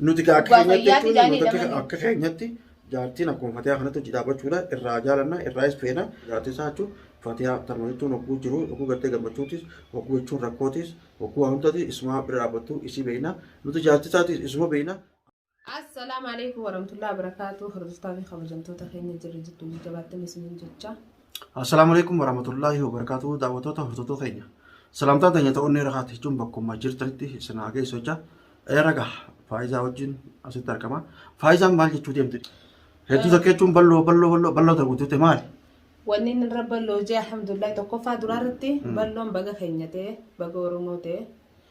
Nuti gaa akka Abbaa keenyatti fayyaa jechuun fidaanii nuti akka- lamanii. akka keenyatti jaartiin akkuma fatiyaa kanatti hojii dhaabbachuudha irraa jaalanna irraa is feena jaartii isaa jechuun fatiyaa tanuma jechuun hogguu jiru hogguu gartee gammachuutis hogguu jechuun rakkootis hogguu waa hundati isuma bira dhaabbattu isii beeyna nuti jaartii isaatis isuma beeyna Assalaamu alaikum warahmatullahi wabarakatuh. Hordoftoota fi kabajamtoota keenya jirra jirtu jajjabaattan isiniin jecha. Assalaamu alaikum warahmatullaahi wabarakaatu daawwattoota hordoftoota keenya. Salaamtaan teenya ta'uun irra haati jechuun bakkuma jirtanitti isin haa geessu jecha raga faayizaa wajjin asitti argama. Faayizaan maal jechuu deemte? Hedduu takka jechuun bal'oo bal'oo bal'oo bal'oo ta'u guutuute maali? Wanni inni irra bal'oo jee alhamdulillah tokkoffaa duraa irratti bal'oon baga keenya ta'e baga Oromoo ta'e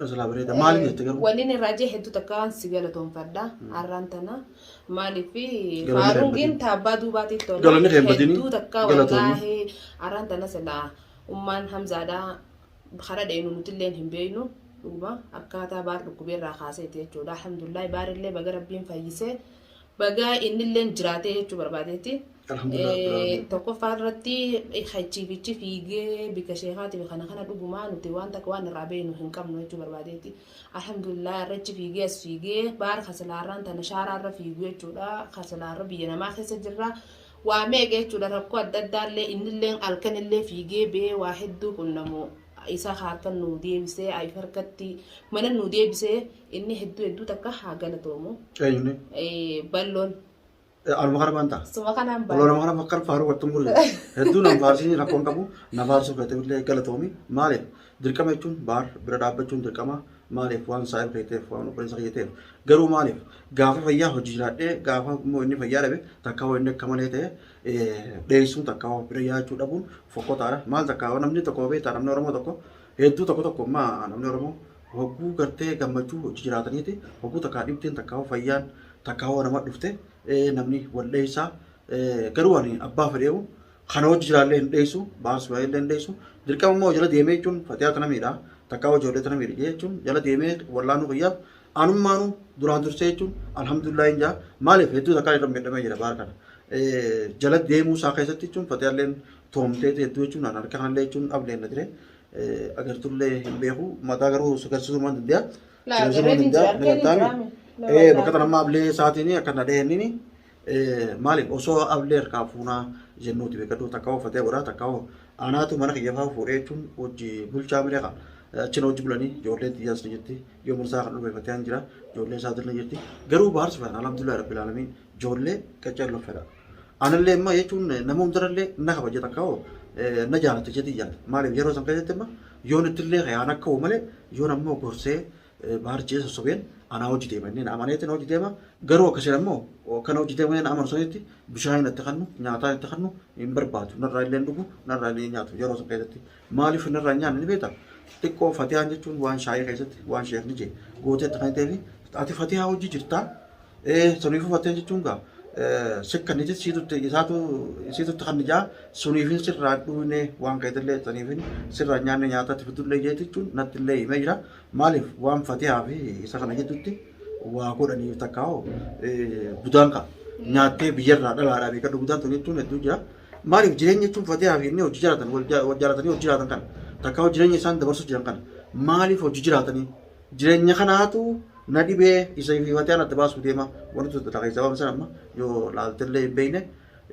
Rasulaa bareeda. Maaliif jette garuu? Wannin irraa jee hedduu takkaan si galatoonfadha. Har'aan tana maaliif Galanni faaruungiin kee taabbaa duubaatiif tola. Galanni kee hin badini. Hedduu takkaa Galatoomi. wallaahi har'aan tana silaa ummaan hamzaadhaa hara dheenu nutilleen hin beeynu. Dhuguma akkaataa baar dhukkubeerraa kaaseeti jechuudha. Alhamdulillah baarillee baga rabbiin fayyisee. Bagaa innilleen jiraatee jechuu barbaadeetti. Alhamdulillah Rabbil Aalamiin. Tokkoffaa irratti hachiifichi fiigee bika sheekaatiif kana kana dhugumaa nuti waan takka waan irraa beeknu hin qabnu jechuu barbaadeetti. Alhamdulillah irrachi fiigee as fiigee baar kasilaarraan tana shaaraarra fiigu jechuudha. Kasilaarra biyya namaa keessa jirra. Waa meeqa jechuudha rakkoo adda addaallee innillee halkanillee fiigee bee waa hedduu qunnamu. Isa harkan nuu deebisee ayif harkatti mana nuu deebisee Inni hedduu hedduu takka haa galatoomu. Eenyuun? Balloon. Aluma kana baan ta'a. Suma kanaan baan. Ololama kana bakka faaruu wattu mulle. Hedduu nan faarsiin rakkoon qabu na faarsuu feete illee galatoomi. Maaliif? Dirqama jechuun baar bira dhaabbachuun dirqama. Maaliif waan saa'il feeteef waan obboleessa kiyyateef. Garuu maaliif? Gaafa fayyaa hojii jiraadhee gaafa immoo inni fayyaa dhabe takka hoo inni akka malee ta'e dheessuun takka hoo bira yaachuu dhabuun fokkotaadha. Maal takka hoo namni tokko beektaa namni Oromoo tokko hedduu tokko tokko ammaa namni Oromoo hogguu gartee gammachuu hojii jiraataniiti hogguu takkaa dhibdeen takkaa fayyaan takkaa hoo nama dhufte namni wal dheessaa garuu ani abbaa fedheewu kana hojii jiraallee hin dheessu baars baay'ee hin dheessu dirqama immoo jala deemee jechuun fatiyaa tana miidhaa takkaa ijoollee tana miidha jechuun jala deemee wallaanuu fayyaaf anummaanu duraan dursee jechuun alhamdulillah hin jaa maaliif hedduu takkaa irra miidhamee jira baar kana jala deemuu isaa keessatti jechuun fatiyaalleen toomtee hedduu jechuun harka kanallee jechuun ableen na jire agartullee hin beeku mataa garuu sagarsisuu maan danda'a. Sagarsisuu maan danda'a ni galtaami. Bakka kana amma ablee isaatiin akka na dhaheenniin maaliif osoo ablee harkaa fuunaa jennuuti beekadhu takka hoo fatee godhaa takka hoo anaatu mana kiyya fa'aa fuudhee jechuun hojji bulchaa miree kan achina hojji bulanii ijoolleen xiyyaas ni jirti yoo mursaa kan dhufee fatee jira ijoollee isaatiin ni jirti garuu baarsi fana alhamdulillah rabbil alamin ijoollee qacceen loffedha. Anallee immoo jechuun nama hundarallee na kabaja takka hoo na jaalata jedhii yaadde. Maaliif yeroo san keessatti immoo yoon ittillee kayaan akka hoo malee yoon ammoo gorsee baarjee sossobeen anaa hojii deema inni na amaneetti na hojii deema. Garuu akkasiin ammoo kan hojii deema inni na amanu sanitti bishaan hin itti kannu nyaataa itti kannu hin barbaadu narraa illee hin dhugu narraa illee hin nyaatu yeroo san keessatti. Maaliif inni irraa hin nyaanne ni beektaa? Xiqqoo fatiyaan jechuun waan shaayii keessatti waan sheekni jee gooteetti kan ta'eef ati fatiyaa hojii jirtaa? Ee suniifuu fatiyaa jechuun gaa sikka ni jechii tutte isaatu isii tutte kan ijaa suniifin sirraa dhuunee waan keetillee suniifin sirraa hin nyaanne nyaata ati fidullee jeeti jechuun natti illee himee jira. Maaliif waan fatiyaa fi isa kana jidduutti waa godhaniif takkaa hoo budaan kaa nyaattee biyyarraa dhalaadhaa beekadhu budaan tun jechuun hedduu jira. Maaliif jireenya jechuun fatiyaa fi inni hojii jiraatan wal ja- wal jaalatanii hojii jiraatan kana takka hojii jireenya isaan dabarsuu jiran kana maaliif hojii jiraatanii jireenya kanaatu na dhibee isa fi fatiyaan adda baasuu deema wanti tokko takka keessaa waan sana amma yoo laaltellee hin beekne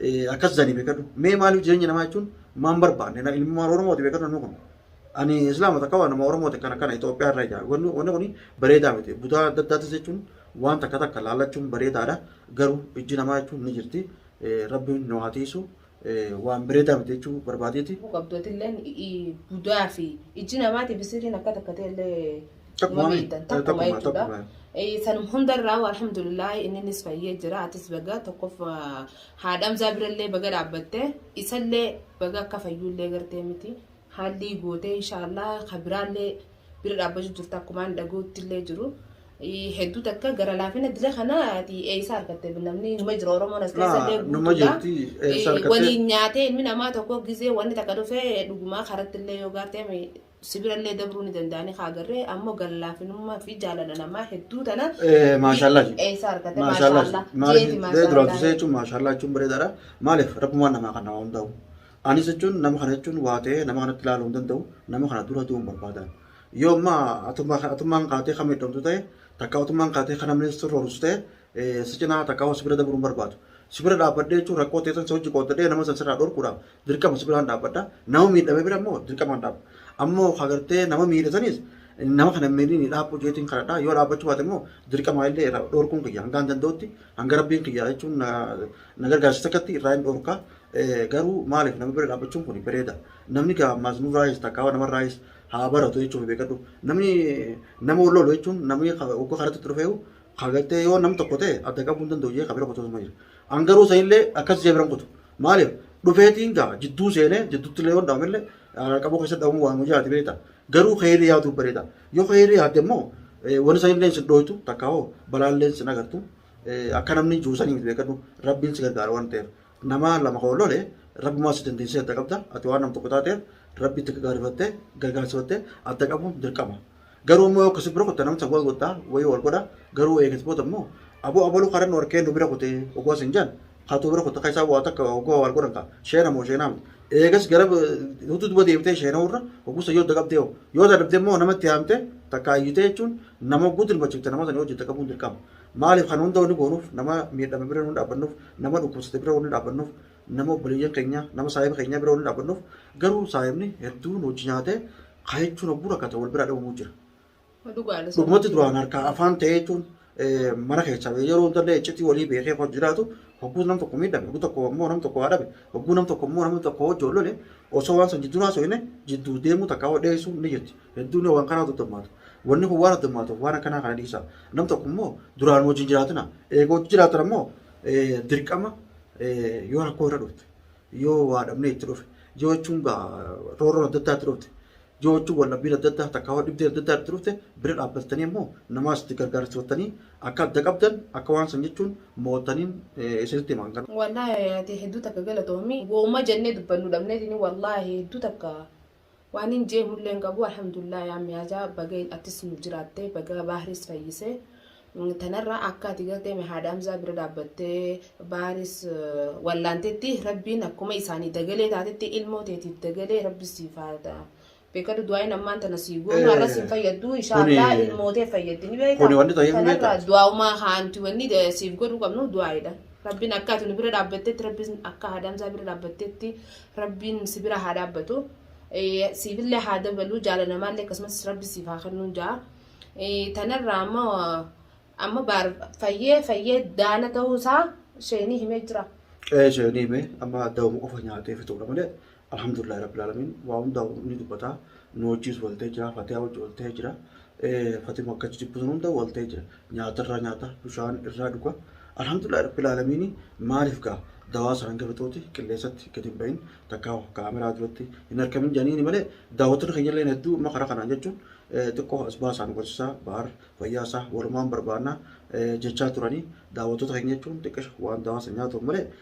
eh, akkas jedhanii beekadhu mee maaliif jireenya namaa jechuun maan barbaanne na ilmaan oromooti beekadhu namni kun ani islaama takka waan nama oromooti kana kana Itoophiyaa irraa ijaaru wanni wanni kun bareedaa miti budaa adda addaattis jechuun waan takka takka laallachuun bareedaadha garuu ijji namaa jechuun ni jirti rabbiin nu haa tiisu waan bireedaa miti jechuu barbaadeeti. qabdootilleen budaa fi ijji namaatiif sirriin akka takka ta'ellee Takkuma mami? miidhan takkuma Takkuma, jechuudha. takkuma. Eh, Sanum hundarraa alhamdulillah inninis fayyee jira atis baga tokkoof haadhamzaa birallee baga dhaabbatte isallee baga akka fayyuullee gartee miti Haallii gootee inshaallah ka biraallee bira dhaabbachu jirta akkumaan dhaguuttillee jiru. Hedduu takka gara laafina dila kana ati eeysa argatte namni numa jira Oromoon as keessa illee numa jirti eessa argatte? Waliin nyaatee ilmi namaa tokko gizee wanni takka dhufee dhugumaa karatti illee yoo gaartee sibira illee dabruu ni danda'anii kaa agarree ammoo gara laafinummaa fi jaalala namaa hedduu tana Maashaallah. eeysa argatte Maashaallah. maashaallah Maaliif jeeti dee duraan maashaallah. tusee jechuun maashaallah jechuun bareedaadha. Maaliif rabbumaan namaa kan namaa hundaa'u. Anis jechuun nama kana jechuun waa ta'ee nama kanatti ilaaluu hin danda'u. Nama kana dura du'uun barbaadaan. Yoo amma atummaa- atummaan kaatee kan miidhamtu ta'e takka atummaan kaatee kan namni sirra horsu ta'e eh, si cinaa takka si bira dabruu hin barbaadu. Si bira dhaabbadhee jechuun rakkoo ta'e san si hojii qooddadhee nama san sirraa dhorkuudhaaf dirqama si biraan dhaabbadha. Nama miidhame bira immoo dirqamaan dhaabba. Ammoo agartee nama miidhe sanis nama kana hin miidhiin dhaabbuu jeetiin kadhadha. Yoo dhaabbachuu baate immoo dirqamaa illee irraa dhorkuun kiyya hangaan danda'utti hanga rabbiin kiyya jechuun na- na gargaarsiisa akkatti irraa hin dhorka. Garuu maaliif nama bira dhaabbachuun kun bareeda. Namni gaa ammaas nurraayis takkaa namarraayis haa baratu jechuun beekadhu. Namni nama wal lolu jechuun namni ogga karatti itti dhufeeyu kagartee yoo nam tokko ta'e adda qabuu hin danda'u jee kabira kutuu jira. An garuu sanillee akkas jee biran kutu. Maaliif dhufeetiin gaa jidduu seenee jidduutti illee yoon dhaabamillee qabuu keessa dhabamu waan hojaati beekta. Garuu keeyrii yaaduu bareeda. Yoo keeyrii yaadde immoo wani sanillee sin dhooytu takkaa hoo balaallee sin agartu. Akka namni jiru sanii miti beekadhu rabbiin si gargaara waan ta'eef. Nama lama ka wal lole Rabbumaa si dandeessisee adda qabda. Ati waan nam tokko taateef Rabbitti gagaarifattee gargaarsifattee adda qabuun dirqama. Garuu immoo yoo akkasii bira kutte namni san wal godha wayii wal godha garuu eegas booda immoo aboo abaluu karan nu harkee nu bira kute ogoo sin jan katuu bira kutte keessaa waa takka ogoo wal godhan ka sheena moo sheenaa miti. Eegas gara hutu duba deebitee sheenaa irra ogusa yoo dagabdee hoo yoo dadhabdee immoo namatti haamtee takka ayyitee jechuun nama oguu dirmachifte nama san yoo hojjette qabuun dirqama. Maaliif kan hunda wanni goonuuf nama miidhame bira wanni dhaabbannuuf nama dhukkubsate bira wanni dhaabbannuuf nama obboleeyyan keenya nama saahiba keenyaa bira wanni dhaabbannuuf garuu saahibni hedduu nu wajji nyaatee haa jechuun hogguu rakkate wal biraa dhabamuu jira. Dhugaadha. Dhugumatti duraan harkaa afaan ta'ee jechuun eh, mana keessaa ba'ee yeroo hundallee iccitii walii beekee kan jiraatu hogguu nam tokko miidhame hogguu tokko immoo nam tokko haa dhabe hogguu nam tokko immoo nam tokko hojii ol lole osoo waan san jidduu haasofne jidduu deemuu takka hoo dheessuun ni jirti Hedduun waan kanaa daddammaatu. Wanni kun waan addammaatuuf waan akkanaa kana dhiisa. Nam tokko immoo duraan wajjin jiraatina. Eega wajjin jiraatan ammoo dirqama yoo rakkoo irra dhufte, yoo waa dhabnee itti dhufe, yoo jechuun roorroon adda addaa itti dhufte, yoo jechuun wal dhabbiin adda addaa takka dhibdeen adda addaa itti dhufte bira dhaabbattanii ammoo namaas itti gargaarsifattanii akka adda qabdan akka waan san jechuun mo'attaniin isinitti himaan kana. Wallaahi hayaati hedduu takka galatoomi. Wooma jennee dubbannu dhabneetini wallaahi hedduu takka Waanin jeehullee hin qabu alhamdulillah yaa miyaazaa baga attis nuuf jiraatte baga baahris fayyise tanarra akka ati gartee me haadha hamzaa bira dhaabbattee baahris wallaantetti rabbiin akkuma isaanii dagalee taatetti ilmoo teetiif dagalee rabbi siif haadha beekadhu du'aayin ammaan tana sii goonu har'a siin fayyaddu inshaallah Kuni- ilmoo tee fayyaddi ni beekta kuni wanni ta'e hin beekta. tanarra du'aa'umaa haanti wanni de- siif godhuu qabnu du'aayidha rabbiin akka ati nu bira dhaabbattetti rabbiin akka haadha hamzaa bira dhaabbattetti Rabbiin si bira haa dhaabbatu. Siifillee haa dabalu jaala namaallee akkasumas rabbi siif haa kennuun ja'a. Tanarraa amma amma baar fayyee fayyee daana ta'uusaa sheenii himee jira. Ee sheenii himee amma dawuma qofa nyaatee fixuudha malee alhamdulillah rabbil alamin waa hundaa ni dubbata. nu wajjiis waltee jira fatiyaa wajji waltee jira fatima akka jijibbu sun hunda waltee jira nyaata irraa nyaata bishaan irraa dhuga alhamdulillah rabbil aalamiin maaliif gaa dawaa sanan gafatuuti qilleensatti gadi hin bahin takkaa kaameraa duratti hin harkamin jedhaniini malee daawwattoonni keenya illee hedduu amma karaa kanaan jechuun xiqqoo as baasaan barsiisaa baar fayyaa isaa walumaan barbaannaa jechaa turanii daawwattoota keenya jechuun xiqqisha waan dawaa san nyaatuuf malee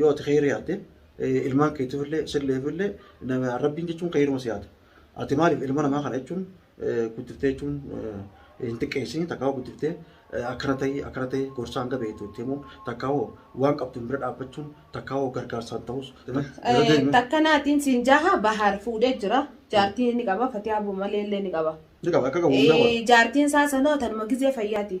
yoo ati kheyri yaadde ilmaan keetiif illee silleef illee rabbiin jechuun kheyruma si yaada ati maaliif ilma namaa kana jechuun guddiftee jechuun hin xiqqeessin takkaa guddiftee akkana ta'ii akkana ta'ii gorsaa hanga beektu itti himuun takkaa hoo waan qabduun bira dhaabbachuun takkaa hoo gargaarsaan ta'us Takka naatiin siin jaha bahaar fuudhee jira. Jaartii ni qaba fatiyaa bumalee illee ni qaba. Ni qaba akka qabu hundaa qaba. Jaartiin isaa sanoo tanuma gizee fayyaati.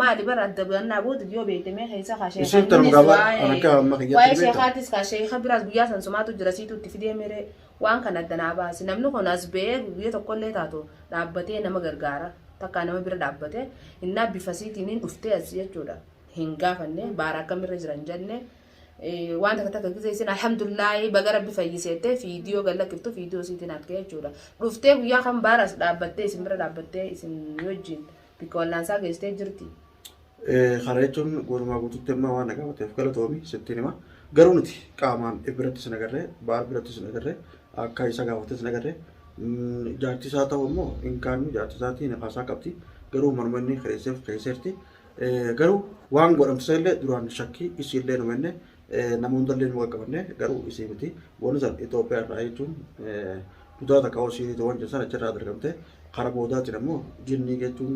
maali bar adda baannaa booda yoo beekte mee keessa kaa Isheen sheekan tanuma innis gabaa kan akka amma waa'ee kiyyaatti waa'ee ni beektaa? sheekaatis kaa sheeka biraas guyyaa san sumaatu jira siitu itti fidee miree waan kana adda naa baasi namni kun as ba'ee guyyaa tokkollee taatu dhaabbatee nama gargaara takkaa nama bira dhaabbatee innaa bifa siitiin hin dhuftee as jechuudha hin gaafanne baara akkamirra jira hin jenne Eh, waan takka takka gisee isin alhamdulillahi baga rabbi fayyiseette fiidiyoo gallakkiftu fiidiyoo siitiin argee jechuudha dhuftee guyyaa kan baaraas dhaabbattee isin bira dhaabbattee isin wajjin Bakka wallaansaa geessitee jirti. Kana jechuun guutumaa guututti amma waan dhagaamateef galatoomi sittiin hima. Garuu nuti qaamaan biratti sin agarree, baal biratti sin agarree, akka isa gaafatte sin agarree. Jaartii isaa ta'u immoo hin kaannu jaartii isaatii nafaasaa qabdi. Garuu manuma inni kireesseef keesseerti. Garuu waan godhamsisaa illee duraan shakkii isii illee nama inni nama hunda illee nama qaqqabanne garuu isii miti. Wanni san Itoophiyaa irraa jechuun kutaa takka yoo siihrii ta'u waan jedhu sana achirraa dargamte kara boodaatiin ammoo jinnii jechuun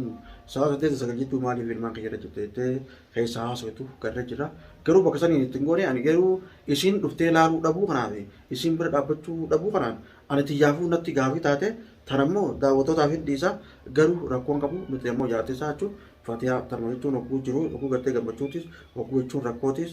sa'a saddeet sagal jechuu maaliif ilmaan kiyya irra jirte jettee keessa haasoftu garra jira garuu bakka saniin ittiin goone ani garuu isiin dhuftee laaluu dhabuu kanaaf isiin bira dhaabbachuu dhabuu kanaan ani tiyyaafuu natti gaafii taate tan ammoo daawwattootaaf hin dhiisa garuu rakkoon qabu nuti ammoo jaartii isaa jechuun fatiyaa tarma jechuun hogguu jiru hogguu gartee gammachuutis hogguu jechuun rakkootis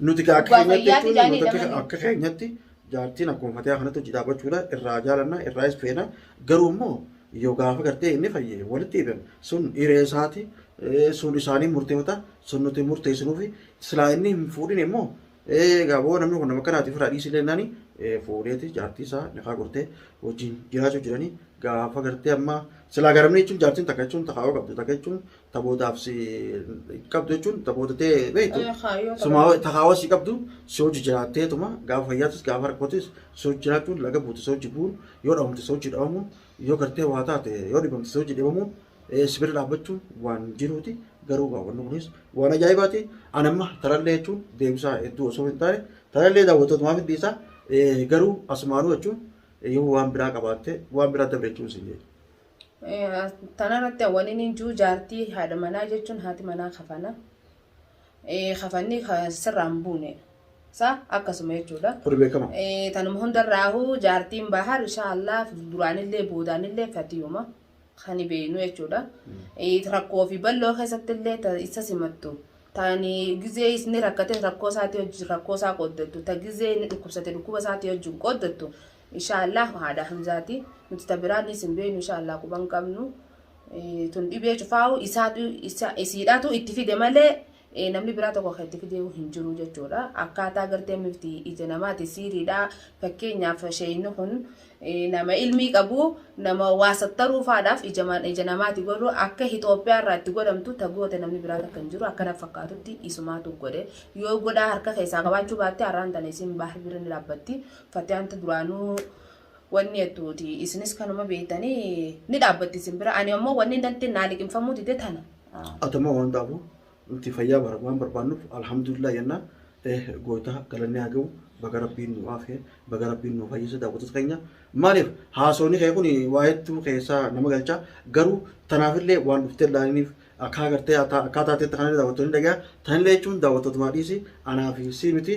Nuti gaa akka Abbaa keenyatti fayyaati jechuun jaanii nuti akka- dhamanii. akka keenyatti jaartiin akkuma fatiyaa kanatti hojii dhaabachuudha irraa jaalanna irraa is feena garuu immoo yoo gaafa gartee inni fayyee walitti hidhan sun hiree isaati eh, sun isaanii murteeffata sun nuti murteessinuufi silaa inni hin fuudhin immoo eh, egaa boo namni kun nama kanaati firaa dhiisii lennani fuudheeti jaartii isaa nikaa gortee wajjin jiraachuu jiranii gaafa gartee amma silaa garamni jechuun jaartiin takka jechuun takaa'oo qabdu takka jechuun tabootaaf si qabdu jechuun taboota ta'e beektu Eh, haa, yoo sumaa taboota- takaawaa si qabdu si hojii jiraatteetuma gaafa fayyaatus gaafa rakkootis si hojii jiraachuun laga buute si hojii bu'uun yoo dhabamte si hojii dhabamuun yoo gartee waa taate yoo dhibamte si hojii dhibamuun eh, si bira dhaabbachuun waan jiruuti garuu gaawwanni kunis waan ajaa'ibaati ani amma tarallee jechuun deebisaa hedduu osoo hin taane tarallee daawwattootumaaf hin dhiisaa Eh, garuu asumaanuu jechuun eh, yoo waan biraa qabaatte waan biraa dabre jechuun siin jedhu. Tanarratti wani ni juu jaartii haadha manaa jechuun haati manaa kafana. Kafanni sirraan buune. Sa akkasuma jechuudha. Kuni beekama. Tanuma hundarraahu jaartiin bahar inshaallah duraanillee boodaanillee fatiyuma kan beeknu jechuudha. Rakkoo fi balloo keessattillee isa simattu. Taani gizee isni rakkate rakkoo isaatii wajjin rakkoo isaa qooddattu. Ta gizee inni dhukkubsate dhukkuba isaatii wajjin qooddattu. Inshaa Allaah haadha hamzaati nuti ta biraallee isin beenu inshaa Allaah quba hin qabnu tun dhibee cufaa'u isaatu isiidhaatu itti fide malee namni biraa tokko kan itti fide hin jiru jechuudha akkaataa gartee mifti ija namaati siiriidha fakkeenyaaf sheeyni kun nama ilmii qabu nama waa sattaruu faadhaaf ija namaati godhu akka Itoophiyaa irraa itti godhamtu ta goote namni biraa takka hin jiru akkana fakkaatutti isumaatu godhe yoo godhaa harka keessaa qabaachuu baatte har'aan tana isiin baahir birri ni dhaabbatti Fatiyaantu duraanuu wanni jettuuti isinis kanuma beektanii ni dhaabbatti isin bira ani ammoo wanni intalti naa liqimfamuu dide tana. Atuma waan dhaabu nuti fayyaa bara waan barbaannuuf alhamdulillah jenna eh gootaa galanni haa ga'u baga rabbiin nu aafee baga rabbiin nu fayyise daawwattoota keenya maaliif haasawni kee kun waa hedduu keessaa nama galcha garuu tanaafillee waan dhuftee laaniif akka agartee akka taateetti kanallee daawwattoonni dhagaya tanillee jechuun daawwattootumaa dhiisi anaa fi sii miti